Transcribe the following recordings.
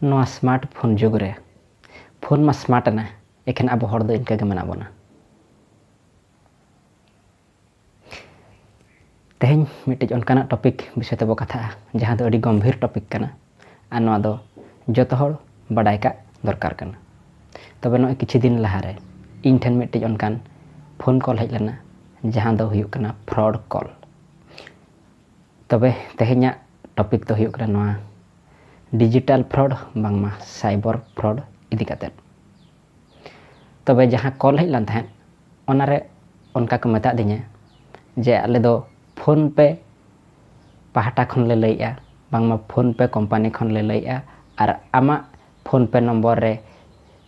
ᱱᱚᱣᱟ smart phone ᱡᱩᱜᱽ ᱨᱮ ᱯᱷᱳᱱ ᱢᱟ ᱥᱢᱟᱨᱴ ᱮᱱᱟ ᱮᱠᱷᱮᱱ ᱟᱵᱚ ᱦᱚᱲ ᱫᱚ ᱤᱱᱠᱟᱹ ᱜᱮ ᱢᱮᱱᱟᱜ ᱵᱚᱱᱟ ᱛᱮᱦᱮᱧ ᱢᱤᱫᱴᱤᱡ ᱚᱱᱠᱟᱱᱟᱜ ᱴᱚᱯᱤᱠ ᱵᱤᱥᱚᱭ ᱛᱮᱵᱚ ᱠᱟᱛᱷᱟᱜᱼᱟ ᱡᱟᱦᱟᱸ ᱫᱚ ᱟᱹᱰᱤ ᱜᱚᱢᱵᱷᱤᱨ ᱴᱚᱯᱤᱠ ᱠᱟᱱᱟ ᱟᱨ ᱱᱚᱣᱟ ᱫᱚ ᱡᱚᱛᱚ ᱦᱚᱲ ᱵᱟᱰᱟᱭ ᱠᱟᱜ ᱫᱚᱨᱠᱟᱨ ᱠᱟᱱᱟ ᱛᱚᱵᱮ ᱱᱚᱜᱼᱚᱭ ᱠᱤᱪᱷᱩ ᱫᱤᱱ ᱞᱟᱦᱟᱨᱮ ᱤᱧ ᱴᱷᱮᱱ ᱢᱤᱫᱴᱤᱡ ᱚᱱᱠᱟᱱ ᱯᱷᱳᱱ ᱠᱚᱞ ᱦᱮᱡ ᱞᱮᱱᱟ ᱡᱟᱦᱟᱸ ᱫᱚ ᱦᱩᱭᱩᱜ ᱠᱟᱱᱟ ᱯᱷᱨᱚᱰ ᱠᱚᱞ ᱛᱚᱵᱮ ᱛᱮᱦᱮᱧᱟᱜ ᱴᱚᱯᱤᱠ ᱫᱚ ᱦᱩᱭᱩᱜ ᱠᱟᱱᱟ ᱱᱚᱣᱟ ᱰᱤᱡᱤᱴᱟᱞ ᱯᱷᱨᱚᱰ ᱵᱟᱝᱢᱟ ᱥᱟᱭᱵᱚᱨ ᱯᱷᱨᱚᱰ ᱤᱫᱤ ᱠᱟᱛᱮᱫ ᱛᱚᱵᱮ ᱡᱟᱦᱟᱸ ᱠᱚᱞ ᱦᱮᱡ ᱞᱮᱱ ᱛᱟᱦᱮᱸᱫ ᱚᱱᱟᱨᱮ ᱚᱱᱠᱟ ᱠᱚ ᱢᱮᱛᱟᱜ ᱫᱤᱧᱟ ᱡᱮ ᱟᱞᱮ ᱫᱚ ᱯᱷᱳᱱ ᱯᱮ ᱯᱟᱦᱴᱟ ᱠᱷᱚᱱ ᱞᱮ ᱞᱟᱹᱭᱮᱜᱼᱟ ᱵᱟᱝᱢᱟ ᱯᱷᱳᱱ ᱯᱮ ᱠᱳᱢᱯᱟᱱᱤ ᱠᱷᱚᱱ ᱞᱮ ᱞᱟᱹᱭᱮᱜᱼᱟ ᱟᱨ ᱟᱢᱟᱜ ᱯᱷᱳᱱ ᱯᱮ ᱱᱚᱢᱵᱚᱨ ᱨᱮ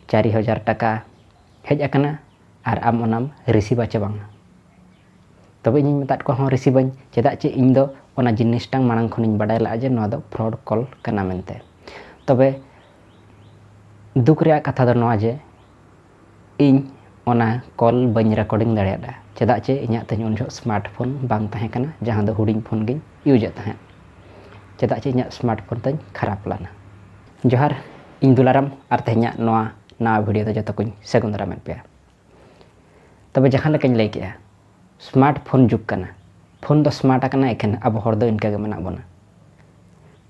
ᱪᱟᱨᱤ ᱦᱟᱡᱟᱨ ᱴᱟᱠᱟ ᱦᱮᱡ ᱟᱠᱟᱱᱟ ᱟᱨ ᱟᱢ ᱚᱱᱟᱢ ᱨᱤᱥᱤᱵᱷ ᱟᱪᱮ ᱵᱟᱝ ᱛᱚᱵᱮ ᱤᱧᱤᱧ ᱢᱮᱛᱟᱫ ᱠᱚᱣᱟ ᱦᱚᱸ ᱨᱤᱥᱤᱵᱷ ᱟᱹᱧ ᱪᱮᱫᱟᱜ ᱪᱮ ᱤᱧ ᱫᱚ ᱚᱱᱟ ᱡᱤᱱᱤᱥᱴᱟᱝ ᱢᱟᱲᱟᱝ ᱠᱷᱚᱱᱤᱧ ᱵᱟᱰᱟᱭ ᱞᱟᱜᱼᱟ ᱡᱮ ᱱᱚᱣᱟ ᱫᱚ ᱯᱷᱨᱚᱰ ᱠᱚᱞ ᱠᱟᱱᱟ ᱢᱮᱱᱛᱮ ᱛᱚᱵᱮ ᱫᱩᱠ ᱨᱮᱭᱟᱜ ᱠᱟᱛᱷᱟ ᱫᱚ ᱱᱚᱣᱟ ᱡᱮ ᱤᱧ ᱚᱱᱟ ᱠᱚᱞ ᱵᱟᱹᱧ ᱨᱮᱠᱚᱨᱰᱤᱝ ᱫᱟᱲᱮᱭᱟᱫᱟ ᱪᱮᱫᱟᱜ ᱪᱮ ᱤᱧᱟᱹᱜ ᱛᱮᱦᱮᱧ ᱩᱱ ᱡᱚᱦᱚᱜ ᱥᱢᱟᱨᱴ ᱯᱷᱳᱱ ᱵᱟᱝ ᱛᱟᱦᱮᱸ ᱠᱟᱱᱟ ᱡᱟᱦᱟᱸ ᱫᱚ ᱦᱩᱰᱤᱧ ᱯᱷᱳᱱ ᱜᱤᱧ ᱤᱭᱩᱡᱮᱫ ᱛᱟᱦᱮᱸᱫ ᱪᱮᱫᱟᱜ ᱪᱮ ᱤᱧᱟᱹᱜ ᱥᱢᱟᱨᱴ ᱯᱷᱳᱱ ᱛᱤᱧ ᱠᱷᱟᱨᱟᱯ ᱞᱮᱱᱟ ᱡᱚᱦᱟᱨ ᱤᱧ ᱫᱩᱞᱟᱨᱟᱢ ᱟᱨ ᱛᱮᱦᱮᱧᱟᱜ ᱱᱚᱣᱟ ᱱᱟᱣᱟ ᱵᱷᱤᱰᱤᱭᱳ ᱫᱚ ᱡᱚᱛᱚ ᱠᱚᱧ ᱥᱟᱹᱜᱩᱱ ᱫᱟᱨᱟᱢᱮᱫ ᱯᱮᱭᱟ ᱛᱚᱵᱮ ᱡᱟᱦᱟᱸ ᱞᱮᱠᱟᱧ ᱞᱟᱹᱭ ᱠᱮᱜᱼᱟ ᱥᱢᱟᱨᱴ ᱯᱷᱳᱱ ᱡᱩᱜᱽ ᱠᱟᱱᱟ ᱯᱷᱳᱱ ᱫᱚ ᱥᱢᱟᱨᱴ ᱟᱠᱟᱱᱟ ᱮᱠᱷᱮᱱ ᱟᱵᱚ ᱦᱚᱲ ᱫᱚ ᱤᱱᱠᱟᱹ ᱜᱮ ᱢᱮᱱᱟᱜ ᱵᱚᱱᱟ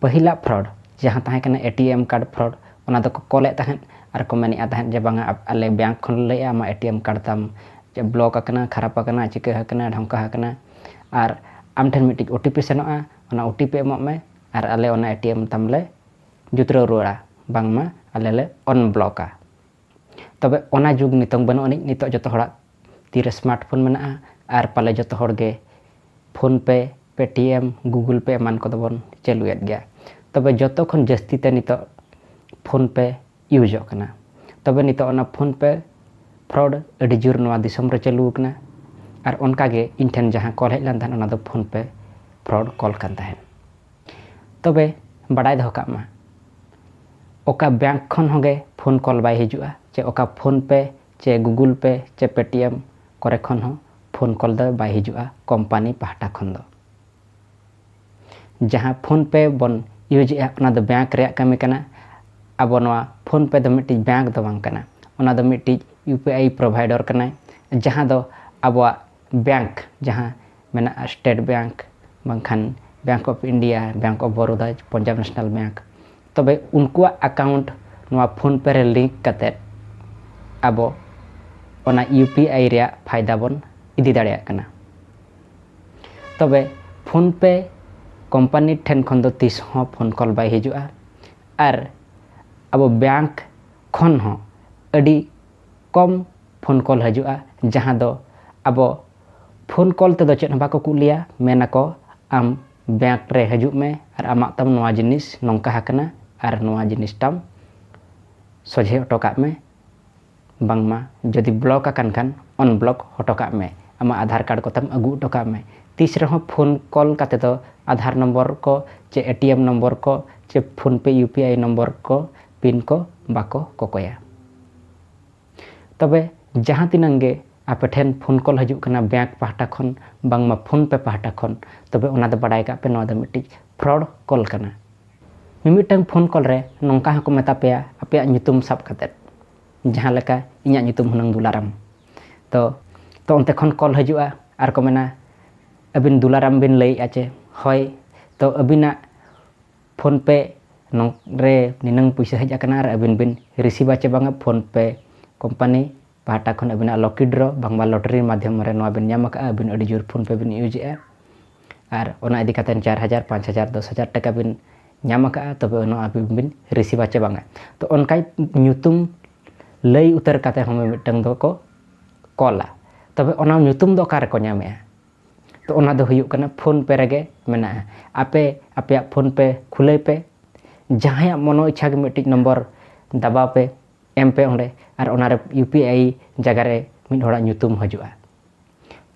ᱯᱟᱹᱦᱤᱞᱟᱜ ᱯᱷᱨᱚᱰ ᱡᱟᱦᱟᱸ ᱛᱟᱦᱮᱸ ᱠᱟᱱᱟ A T M card fraud ᱚᱱᱟ ᱫᱚᱠᱚ ᱠᱚᱞᱮᱫ ᱛᱟᱦᱮᱸᱫ ᱟᱨ ᱠᱚ ᱢᱮᱱᱮᱫᱼᱟ ᱛᱟᱦᱮᱸᱫ ᱡᱮ ᱵᱟᱝᱟ ᱟᱞᱮ ᱵᱮᱝᱠ ᱠᱷᱚᱱ ᱞᱟᱹᱭᱮᱫᱼᱟ ᱟᱢᱟᱜ ᱮ ᱴᱤ ᱮᱢ ᱠᱟᱨᱰ ᱛᱟᱢ ᱵᱞᱚᱠ ᱟᱠᱟᱱᱟ ᱠᱷᱟᱨᱟᱯ ᱟᱠᱟᱱᱟ ᱪᱤᱠᱟᱹ ᱟᱠᱟᱱᱟ ᱰᱷᱚᱝᱠᱟ ᱟᱠᱟᱱᱟ ᱟᱨ ᱟᱢ ᱴᱷᱮᱱ ᱢᱤᱫᱴᱤᱡ ᱳ ᱴᱤ ᱯᱤ ᱥᱮᱱᱚᱜᱼᱟ ᱚᱱᱟ ᱳ ᱴᱤ ᱯᱤ ᱮᱢᱚᱜ ᱢᱮ ᱟᱨ ᱟᱞᱮ ᱚᱱᱟ ᱮ ᱴᱤ ᱮᱢ ᱛᱟᱢ ᱞᱮ ᱡᱩᱛᱨᱟᱹᱣ ᱨᱩᱣᱟᱹᱲᱟ ᱵᱟᱝᱢᱟ ᱟᱞᱮ ᱞᱮ ᱚᱱᱵᱞᱚᱠᱟ ᱛᱚᱵᱮ ᱚᱱᱟ ᱡᱩᱜᱽ ᱱᱤᱛᱚᱝ ᱵᱟᱹᱱᱩᱜ ᱟᱹᱱᱤᱡ ᱱᱤᱛᱚᱜ ᱡᱚᱛᱚ ᱦᱚᱲᱟᱜ ᱛᱤᱨᱮ ᱥᱢᱟᱨᱴ ᱯᱷᱳᱱ ᱢᱮᱱᱟᱜᱼᱟ ᱟᱨ ᱯᱟᱞᱮ ᱡᱚᱛᱚ ᱦᱚᱲ ᱜᱮ ᱯᱷᱳᱱ ᱯᱮ ᱯᱮᱴᱤᱮᱢ ᱜᱩᱜᱩᱞ ᱯᱮ ᱮᱢᱟᱱ ᱠᱚᱫᱚ ᱵᱚᱱ ᱪᱟᱹᱞᱩᱭᱮᱫ ᱜᱮᱭᱟ ᱛᱚᱵᱮ ᱡᱚᱛᱚ ᱠᱷᱚᱱ ᱡᱟᱹᱥᱛᱤ ᱛᱮ ᱱᱤᱛᱚᱜ ᱯᱷᱳᱱ ᱯᱮ ᱤᱭᱩᱡᱚᱜ ᱠᱟᱱᱟ ᱛᱚᱵᱮ ᱱᱤᱛᱚᱜ ᱚᱱᱟ ᱯᱷᱳᱱ ᱯᱮ ᱯᱷᱨᱚᱰ ᱟᱹᱰᱤ ᱡᱳᱨ ᱱᱚᱣᱟ ᱫᱤᱥᱚᱢ ᱨᱮ ᱪᱟᱹᱞᱩ ᱟᱠᱟᱱᱟ ᱟᱨ ᱚᱱᱠᱟᱜᱮ ᱤᱧ ᱴᱷᱮᱱ ᱡᱟᱦᱟᱸ ᱠᱚᱞ ᱦᱮᱡ ᱞᱮᱱ ᱛᱟᱦᱮᱸᱫ ᱚᱱᱟ ᱫᱚ ᱯᱷᱳᱱ ᱯᱮ ᱯᱷᱨᱚᱰ ᱠᱚᱞ ᱠᱟᱱ ᱛᱟᱦᱮᱸᱫ ᱛᱚᱵᱮ ᱵᱟᱰᱟᱭ ᱫᱚᱦᱚ ᱠᱟᱜ ᱢᱟ ᱚᱠᱟ ᱵᱮᱝᱠ ᱠᱷᱚᱱ ᱦᱚᱸᱜᱮ ᱯᱷᱳᱱ ᱠᱚᱞ ᱵᱟᱭ ᱦᱤᱡᱩᱜᱼᱟ ᱪᱮ ᱚᱠᱟ ᱯᱷᱳᱱ ᱯᱮ ᱪᱮ ᱜᱩᱜᱩᱞ ᱯᱮ ᱪᱮ ᱯᱮᱴᱤᱮᱢ ᱠᱚᱨᱮ ᱠᱷᱚᱱ ᱦᱚᱸ ᱯᱷᱳᱱ ᱠᱚᱞ ᱫᱚ ᱵᱟᱭ ᱦᱤᱡᱩᱜᱼᱟ ᱠᱚᱢᱯᱟᱱᱤ ᱯᱟᱦᱴᱟ ᱠᱷᱚᱱ ᱫᱚ ᱡᱟᱦᱟᱸ ᱯᱷᱳᱱ ᱯᱮ ᱵᱚᱱ ᱤᱭᱩᱡᱽ ᱮᱜᱼᱟ ᱚᱱᱟ ᱫᱚ ᱵᱮᱝᱠ ᱨᱮᱭᱟᱜ ᱠᱟᱹᱢᱤ ᱠᱟᱱᱟ ᱟᱵᱚ ᱱᱚᱣᱟ ᱯᱷᱳᱱ ᱯᱮ ᱫᱚ ᱢᱤᱫᱴᱤᱡ ᱵᱮᱝᱠ ᱫᱚ ᱵᱟᱝ ᱠᱟᱱᱟ ᱚᱱᱟ ᱫᱚ ᱢᱤᱫᱴᱤᱡ ᱤᱭᱩ ᱯᱤ ᱟᱭ ᱯᱨᱚᱵᱷᱟᱭᱰᱚᱨ ᱠᱟᱱᱟᱭ ᱡᱟᱦᱟᱸ ᱫᱚ ᱟᱵᱚᱣᱟᱜ ᱵᱮᱝᱠ ᱡᱟᱦᱟᱸ ᱢᱮᱱᱟᱜᱼᱟ ᱥᱴᱮᱴ ᱵᱮᱝᱠ ᱵᱟᱝᱠᱷᱟᱱ bank of India bank of Baroda Punjab national bank ᱛᱚᱵᱮ ᱩᱱᱠᱩᱣᱟᱜ ᱟᱠᱟᱣᱩᱱᱴ ᱱᱚᱣᱟ ᱯᱷᱳᱱ ᱯᱮ ᱨᱮ ᱞᱤᱝᱠ ᱠᱟᱛᱮᱫ ᱟᱵᱚ ᱚᱱᱟ ᱤᱭᱩ ᱯᱤ ᱟᱭ ᱨᱮᱭᱟᱜ ᱯᱷᱟᱭᱫᱟ ᱵᱚᱱ ᱤᱫᱤ ᱫᱟᱲᱮᱭᱟᱜ ᱠᱟᱱᱟ ᱛᱚᱵᱮ ᱯᱷᱳᱱ ᱯᱮ ᱠᱳᱢᱯᱟᱱᱤ ᱴᱷᱮᱱ ᱠᱷᱚᱱ ᱫᱚ ᱛᱤᱥ ᱦᱚᱸ ᱯᱷᱳᱱ ᱠᱚᱞ ᱵᱟᱭ ᱦᱤᱡᱩᱜᱼᱟ ᱟᱨ ᱟᱵᱚ ᱵᱮᱝᱠ ᱠᱷᱚᱱ ᱦᱚᱸ ᱟᱹᱰᱤ ᱠᱚᱢ ᱯᱷᱳᱱ ᱠᱚᱞ ᱦᱤᱡᱩᱜᱼᱟ ᱡᱟᱦᱟᱸ ᱫᱚ ᱟᱵᱚ ᱯᱷᱳᱱ ᱠᱚᱞ ᱛᱮᱫᱚ ᱪᱮᱫ ᱦᱚᱸ ᱵᱟᱠᱚ ᱠᱩᱞ ᱞᱮᱭᱟ ᱢᱮᱱ ᱟᱠᱚ ᱟᱢ ᱵᱮᱝᱠ ᱨᱮ ᱦᱤᱡᱩᱜ ᱢᱮ ᱟᱨ ᱟᱢᱟᱜ ᱛᱟᱢ ᱱᱚᱣᱟ ᱡᱤᱱᱤᱥ ᱱᱚᱝᱠᱟ ᱟᱠᱟᱱᱟ ᱟᱨ ᱱᱚᱣᱟ ᱡᱤᱱᱤᱥ ᱛᱟᱢ ᱥᱚᱡᱷᱮ ᱦᱚᱴᱚ ᱠᱟᱜ ᱢᱮ ᱵᱟᱝᱢᱟ ᱡᱩᱫᱤ ᱵᱞᱚᱠ ᱟᱠᱟᱱ ᱠᱷᱟᱱ ᱚᱱᱵᱞᱚᱠ ᱦᱚᱴᱚ ᱠᱟᱜ ᱢᱮ ᱟᱢᱟᱜ ᱟᱫᱷᱟᱨ ᱠᱟᱨᱰ ᱠᱚᱛᱟᱢ ᱟᱹᱜᱩ ᱦᱚᱴᱚ ᱠᱟᱜ ᱢᱮ ᱛᱤᱥ ᱨᱮᱦᱚᱸ ᱯᱷᱳᱱ ᱠᱚᱞ ᱠᱟᱛᱮ ᱫᱚ ᱟᱫᱷᱟᱨ ᱱᱚᱢᱵᱚᱨ ᱠᱚ ᱪᱮ ᱮ ᱴᱤ ᱮᱢ ᱱᱚᱢᱵᱚᱨ ᱠᱚ ᱪᱮ ᱯᱷᱳᱱ ᱯᱮ ᱤᱭᱩ ᱯᱤ ᱟᱭ ᱱᱚᱢᱵᱚᱨ ᱠᱚ ᱯᱤᱱ ᱠᱚ ᱵᱟᱠᱚ ᱠᱚᱠᱚᱭᱟ᱾ ᱛᱚᱵᱮ ᱡᱟᱦᱟᱸ ᱛᱤᱱᱟᱹᱝ ᱜᱮ ᱟᱯᱮ ᱴᱷᱮᱱ ᱯᱷᱳᱱ ᱠᱚᱞ ᱦᱤᱡᱩᱜ ᱠᱟᱱᱟ ᱵᱮᱸᱠ ᱯᱟᱦᱴᱟ ᱠᱷᱚᱱ ᱵᱟᱝᱢᱟ ᱯᱷᱳᱱ ᱯᱮ ᱯᱟᱦᱴᱟ ᱠᱷᱚᱱ ᱛᱚᱵᱮ ᱚᱱᱟ ᱫᱚ ᱵᱟᱰᱟᱭ ᱠᱟᱜ ᱯᱮ ᱱᱚᱣᱟ ᱫᱚ ᱢᱤᱫᱴᱤᱡ ᱯᱷᱨᱚᱰ ᱠᱚᱞ ᱠᱟᱱᱟ᱾ ᱢᱤᱢᱤᱫᱴᱟᱹᱝ ᱯᱷᱳᱱ ᱠᱚᱞ ᱨᱮ ᱱᱚᱝᱠᱟ ᱦᱚᱸ ᱠᱚ ᱢᱮᱛᱟ ᱯᱮᱭᱟ ᱟᱯᱮᱭᱟᱜ ᱧᱩᱛᱩᱢ ᱥᱟᱵ ᱠᱟᱛᱮ ᱡᱟᱦᱟᱸ ᱞᱮᱠᱟ ᱤᱧᱟᱜ ᱧᱩᱛᱩᱢ ᱦᱩᱱᱟᱹᱝ ᱫᱩᱞᱟᱨᱟᱢ ᱛᱚ ᱛᱚ ᱚᱱᱛᱮ ᱠᱷᱚᱱ ᱠᱚᱞ ᱦᱤᱡᱩᱜᱼᱟ ᱟᱨ ᱠᱚ ᱢᱮᱱᱟ ᱟᱹᱵᱤᱱ ᱫᱩᱞᱟᱨᱟᱢ ᱵᱤᱱ ᱞᱟᱹᱭᱮᱜᱼᱟ ᱪᱮ ᱦᱚᱭ ᱛᱚ ᱟᱹᱵᱤᱱᱟᱜ ᱯᱷᱳᱱ ᱯᱮ ᱱᱚᱝ ᱨᱮ ᱱᱤᱱᱟᱹᱝ ᱯᱩᱭᱥᱟᱹ ᱦᱮᱡ ᱟᱠᱟᱱᱟ ᱟᱨ ᱟᱹᱵᱤᱱ ᱵᱤᱱ ᱨᱤᱥᱤᱵᱷᱟ ᱪᱮ ᱵᱟᱝᱟ ᱯᱷᱳᱱ ᱯᱮ ᱠᱳᱢᱯᱟᱱᱤ ᱯᱟᱦᱴᱟ ᱠᱷᱚᱱ ᱟᱹᱵᱤᱱᱟᱜ ᱞᱚᱠᱤ ᱰᱨᱚ ᱵᱟᱝᱢᱟ ᱞᱚᱴᱨᱤ ᱢᱟᱫᱽᱫᱷᱚᱢ ᱨᱮ ᱱᱚᱣᱟ ᱵᱤᱱ ᱧᱟᱢ ᱟᱠᱟᱫᱼᱟ ᱟᱹᱵᱤᱱ ᱟᱹᱰᱤ ᱡᱳᱨ ᱯᱷᱳᱱ ᱯᱮ ᱵᱤᱱ ᱤᱭᱩᱡᱮᱜᱼᱟ ᱟᱨ ᱚᱱᱟ ᱤᱫᱤ ᱠᱟᱛᱮᱫ ᱪᱟᱨ ᱦᱟᱡᱟᱨ ᱯᱟᱸᱪ ᱦᱟᱡᱟᱨ ᱫᱚᱥ ᱦᱟᱡᱟᱨ ᱴᱟᱠᱟ ᱵᱤᱱ ᱧᱟᱢ ᱟᱠᱟᱫᱼᱟ ᱛᱚᱵᱮ ᱚᱱᱟ ᱟᱹᱵᱤᱱ ᱵᱤᱱ ᱨᱤᱥᱤᱵᱷᱟ ᱪᱮ ᱵᱟᱝᱟ ᱛᱚ ᱚᱱᱠᱟ ᱧᱩᱛᱩᱢ ᱞᱟᱹᱭ ᱩᱛᱟᱹᱨ ᱠᱟᱛᱮᱫ ᱦᱚᱸ ᱢᱤᱢᱤᱫᱴᱟᱹᱝ ᱫᱚᱠᱚ ᱠᱚᱞᱟ ᱛᱚᱵᱮ ᱚᱱᱟ ᱧᱩᱛᱩᱢ ᱫᱚ ᱚᱠᱟ ᱨᱮᱠᱚ ᱧᱟᱢᱮᱜᱼᱟ ᱛᱚ ᱚᱱᱟ ᱫᱚ ᱦᱩᱭᱩᱜ ᱠᱟᱱᱟ ᱯᱷᱳᱱ ᱯᱮ ᱨᱮᱜᱮ ᱢᱮᱱᱟᱜᱼᱟ ᱟᱯᱮ ᱟᱯᱮᱭᱟᱜ ᱯᱷᱳᱱ ᱯᱮ ᱠᱷᱩᱞᱟᱹᱭ ᱯᱮ ᱡᱟᱦᱟᱸᱭᱟᱜ ᱢᱚᱱᱚ ᱤᱪᱪᱷᱟ ᱜᱮ ᱢᱤᱫᱴᱤᱡ ᱱᱚᱢᱵᱚᱨ ᱫᱟᱵᱟᱣ ᱯᱮ ᱮᱢ ᱯᱮ ᱚᱸᱰᱮ ᱟᱨ ᱚᱱᱟᱨᱮ ᱤᱭᱩ ᱯᱤ ᱟᱭ ᱡᱟᱭᱜᱟ ᱨᱮ ᱢᱤᱫ ᱦᱚᱲᱟᱜ ᱧᱩᱛᱩᱢ ᱦᱤᱡᱩᱜᱼᱟ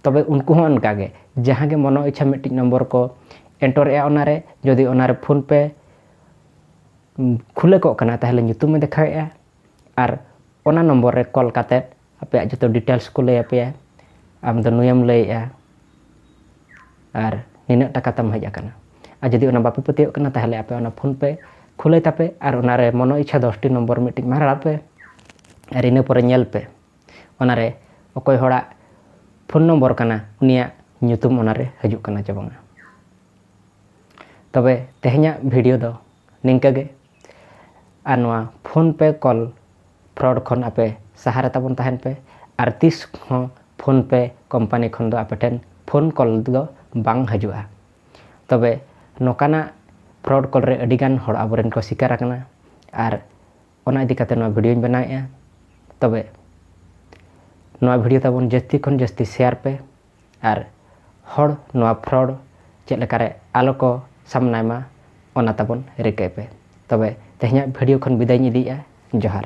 ᱛᱚᱵᱮ ᱩᱱᱠᱩ ᱦᱚᱸ ᱚᱱᱠᱟ ᱜᱮ ᱡᱟᱦᱟᱸ ᱜᱮ ᱢᱚᱱᱚ ᱤᱪᱪᱷᱟ ᱢᱤᱫᱴᱤᱡ ᱱᱚᱢᱵᱚᱨ ᱠᱚ ᱮᱱᱴᱚᱨᱮᱜᱼᱟ ᱚᱱᱟᱨᱮ ᱡᱩᱫᱤ ᱚᱱᱟᱨᱮ ᱯᱷᱳᱱ ᱯᱮ ᱠᱷᱩᱞᱟᱹ ᱠᱚᱜ ᱠᱟᱱᱟ ᱛᱟᱦᱚᱞᱮ ᱧᱩᱛᱩᱢᱮ ᱫᱮᱠᱷᱟᱣᱮᱜᱼᱟ ᱟᱨ ᱚᱱᱟ ᱱᱚᱢᱵᱚᱨ ᱨᱮ ᱠᱚᱞ ᱠᱟᱛᱮᱫ ᱟᱯᱮᱭᱟᱜ ᱡᱚᱛᱚ ᱰᱤᱴᱮᱞᱥ ᱠᱚ ᱞᱟᱹᱭ ᱟᱯᱮᱭᱟ ᱟᱢ ᱫᱚ ᱱᱩᱭᱮᱢ ᱞᱟᱹᱭᱮᱜᱼᱟ ᱟᱨ ᱱᱤᱱᱟᱹᱜ ᱴᱟᱠᱟ ᱛᱟᱢ ᱦᱮᱡ ᱟᱠᱟᱱᱟ ᱟᱨ ᱡᱩᱫᱤ ᱚᱱᱟ ᱵᱟᱯᱮ ᱯᱟᱹᱛᱭᱟᱹᱜ ᱠᱟᱱᱟ ᱛᱟᱦᱚᱞᱮ ᱟᱯᱮ ᱚᱱᱟ ᱯᱷᱳᱱ ᱯᱮ ᱠᱷᱩᱞᱟᱹᱭ ᱛᱟᱯᱮ ᱟᱨ ᱚᱱᱟᱨᱮ ᱢᱚᱱᱚ ᱤᱪᱪᱷᱟ ᱫᱚᱥᱴᱤ ᱱᱚᱢᱵᱚᱨ ᱢᱤᱫᱴᱤᱡ ᱢᱟᱨᱟᱲᱟᱜ ᱯᱮ ᱟᱨ ᱤᱱᱟᱹ ᱯᱚᱨᱮ ᱧᱮᱞ ᱯᱮ ᱚᱱᱟᱨᱮ ᱚᱠᱚᱭ ᱦᱚᱲᱟᱜ ᱯᱷᱳᱱ ᱱᱚᱢᱵᱚᱨ ᱠᱟᱱᱟ ᱩᱱᱤᱭᱟᱜ ᱧᱩᱛᱩᱢ ᱚᱱᱟᱨᱮ ᱦᱤᱡᱩᱜ ᱠᱟᱱᱟ ᱪᱮ ᱵᱟᱝᱟ ᱛᱚᱵᱮ ᱛᱮᱦᱮᱧᱟᱜ ᱵᱷᱤᱰᱤᱭᱳ ᱫᱚ ᱱᱤᱝᱠᱟᱹ ᱜᱮ ᱟᱨ ᱱᱚᱣᱟ ᱯᱷᱳᱱ ᱯᱮ ᱠᱚᱞ ᱯᱷᱨᱚᱰ ᱠᱷᱚᱱ ᱟᱯᱮ ᱥᱟᱦᱟ ᱨᱮ ᱛᱟᱵᱚᱱ ᱛᱟᱦᱮᱱ ᱯᱮ ᱟᱨ ᱛᱤᱥ ᱦᱚᱸ ᱯᱷᱳᱱ ᱯᱮ ᱠᱚᱢᱯᱟᱱᱤ ᱠᱷᱚᱱ ᱫᱚ ᱟᱯᱮ ᱴᱷᱮᱱ ᱯᱷᱳᱱ ᱠᱚᱞ ᱫᱚ ᱵᱟᱝ ᱦᱤᱡᱩᱜᱼᱟ ᱛᱚᱵᱮ ᱱᱚᱝᱠᱟᱱᱟᱜ ᱯᱷᱨᱚᱰ ᱠᱚᱞ ᱨᱮ ᱟᱹᱰᱤ ᱜᱟᱱ ᱦᱚᱲ ᱟᱵᱚᱨᱮᱱ ᱠᱚ ᱥᱤᱠᱟᱨ ᱟᱠᱟᱱᱟ ᱟᱨ ᱚᱱᱟ ᱤᱫᱤ ᱠᱟᱛᱮ ᱱᱚᱣᱟ ᱵᱷᱤᱰᱤᱭᱳᱧ ᱵᱮᱱᱟᱣᱮᱫᱼᱟ ᱛᱚᱵᱮ ᱱᱚᱣᱟ ᱵᱷᱤᱰᱤᱭᱳ ᱛᱟᱵᱚᱱ ᱡᱟᱹᱥᱛᱤ ᱠᱷᱚᱱ ᱡᱟᱹᱥᱛᱤ ᱥᱮᱭᱟᱨ ᱯᱮ ᱟᱨ ᱦᱚᱲ ᱱᱚᱣᱟ ᱯᱷᱨᱚᱰ ᱪᱮᱫ ᱞᱮᱠᱟᱨᱮ ᱟᱞᱚ ᱠᱚ ᱥᱟᱢᱱᱟᱭ ᱢᱟ ᱚᱱᱟ ᱛᱟᱵᱚᱱ ᱨᱤᱠᱟᱹᱭ ᱯᱮ ᱛᱚᱵᱮ ᱛᱮᱦᱮᱧᱟᱜ ᱵᱷᱤᱰᱤᱭᱳ ᱠᱷᱚᱱ ᱵᱤᱫᱟᱹᱭᱤᱧ ᱤᱫᱤᱭᱮᱫᱼᱟ ᱡᱚᱦᱟᱨ